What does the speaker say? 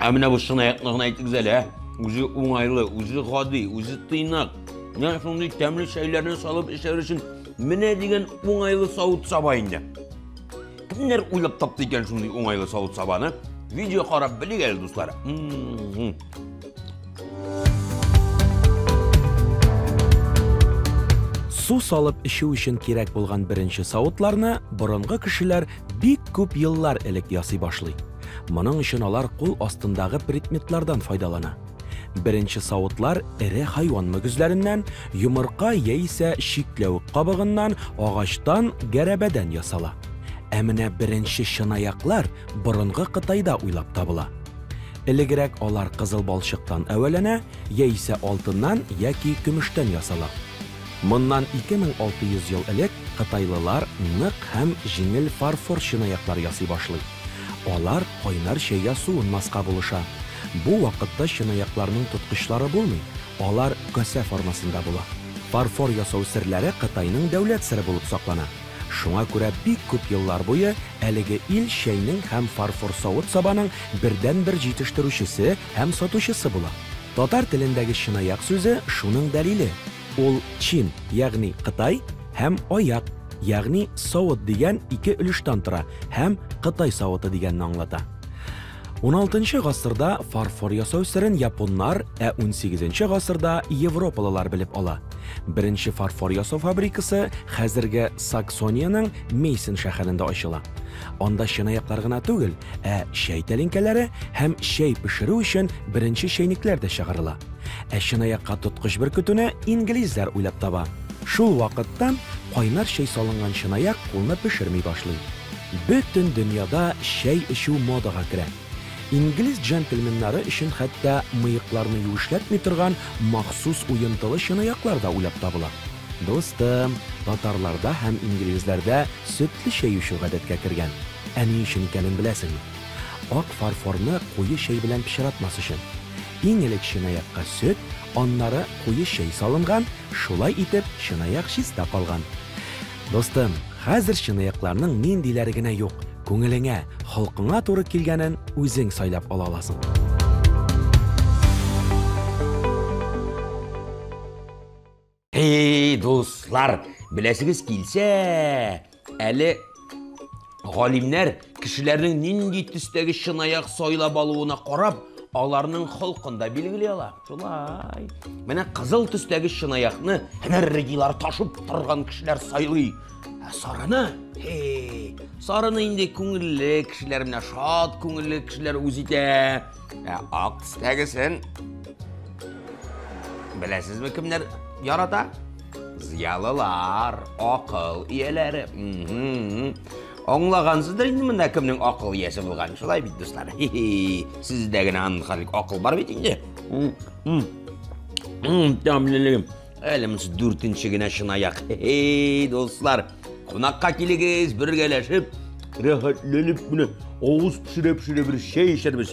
Ә менә бу чынаякны гына әйтегез әле, ә? Үзе уңайлы, үзе гади, үзе тыйнак. Менә шундый тәмле чәйләрне салып эчәр өчен менә дигән уңайлы савыт саба инде. Кемнәр уйлап тапты икән шундый уңайлы савыт сабаны? Видео карап белик әле, дуслар. Су салып эчү өчен кирәк булган беренче савытларны борынгы кешеләр бик күп еллар элек ясый башлый. Моның өчен алар кул астындагы предметлардан файдалана. Беренче савытлар эре хайван мөгезләреннән, йомырка яисә чикләвек кабыгыннан, агачтан, гәрәбәдән ясала. Ә менә беренче чынаяклар борынгы Кытайда уйлап табыла. Элегрәк алар кызыл балчыктан әвәләнә, яисә алтыннан яки көмештән ясала. Моннан 2600 ел элек кытайлылар нык һәм җиңел фарфор чынаяклар ясый башлый. Алар кайнар чәйгә суынмаска булыша. Бу вакытта чынаякларның тоткычлары булмый, алар касә формасында була. Фарфор ясау серләре Кытайның дәүләт сере булып саклана. Шуңа күрә бик күп еллар буе әлеге ил чәйнең һәм фарфор савыт-сабаның бердәнбер җитештерүчесе һәм сатучысы була. Татар телендәге чынаяк сүзе шуның дәлиле. Ул чин, ягъни кытай, һәм аяк, ягъни савыт дигән ике өлештән тора һәм кытай савыты дигәнне аңлата. 16 нчы гасырда фарфор ясау серен японнар, ә 18 нчы гасырда европалылар белеп ала. Беренче фарфор ясау фабрикасы хәзерге Саксониянең Мейсен шәһәрендә ачыла. Анда чынаяклар гына түгел, ә чәй тәлинкәләре һәм чәй пешерү өчен беренче чәйнекләр дә чыгарыла. Ә чынаякка тоткыч бөркетүне инглизләр уйлап таба. Шул вакыттан кайнар чәй салынган чынаяк кулны пешерми башлый. Бөтен дөньяда чәй эчү модага керә. Инглиз джентльменнары өчен хәтта мыекларны юешләтми торган махсус уентылы чынаяклар да уйлап табыла. Дустым, татарларда һәм инглизләрдә сөтле чәй эчү гадәткә кергән. Ә ни өчен икәнен беләсеңме? Ак фарфорны куе чәй белән пычратмас өчен. Иң элек чынаякка сөт, аннары куе чәй салынган, шулай итеп, чынаяк чиста калган. Дустым, хәзер чынаякларның ниндиләре генә юк, күңелеңә, холкыңа туры килгәнен үзең сайлап ала аласың. Әй, дуслар, беләсегез килсә, әле Галимнәр, кешеләрнең нинди төстәге чынаяк сайлап алуына карап, аларның холкын да билгели ала. Шулай. Менә кызыл төстәге чынаякны энергияләр ташып торган кешеләр сайлый. Ә сарыны, хей, сарыны инде күңелле кешеләр менә шат күңелле кешеләр үз итә. Ә ак төстәгесен беләсезме кемнәр ярата? Зыялылар, акыл ияләре. Аңлагансыздыр инде монда кемнең акыл иясе булган. Шулай бит, дуслар. Сездә генә анхалик акыл бар бит инде. Тәмлелегем. Әле монсы дүртенче генә чынаяк. Эй, дуслар, кунакка килегез, бергәләшеп, рәхәтләнеп менә авыз пешерә-пешерә бер чәй эчәрбез.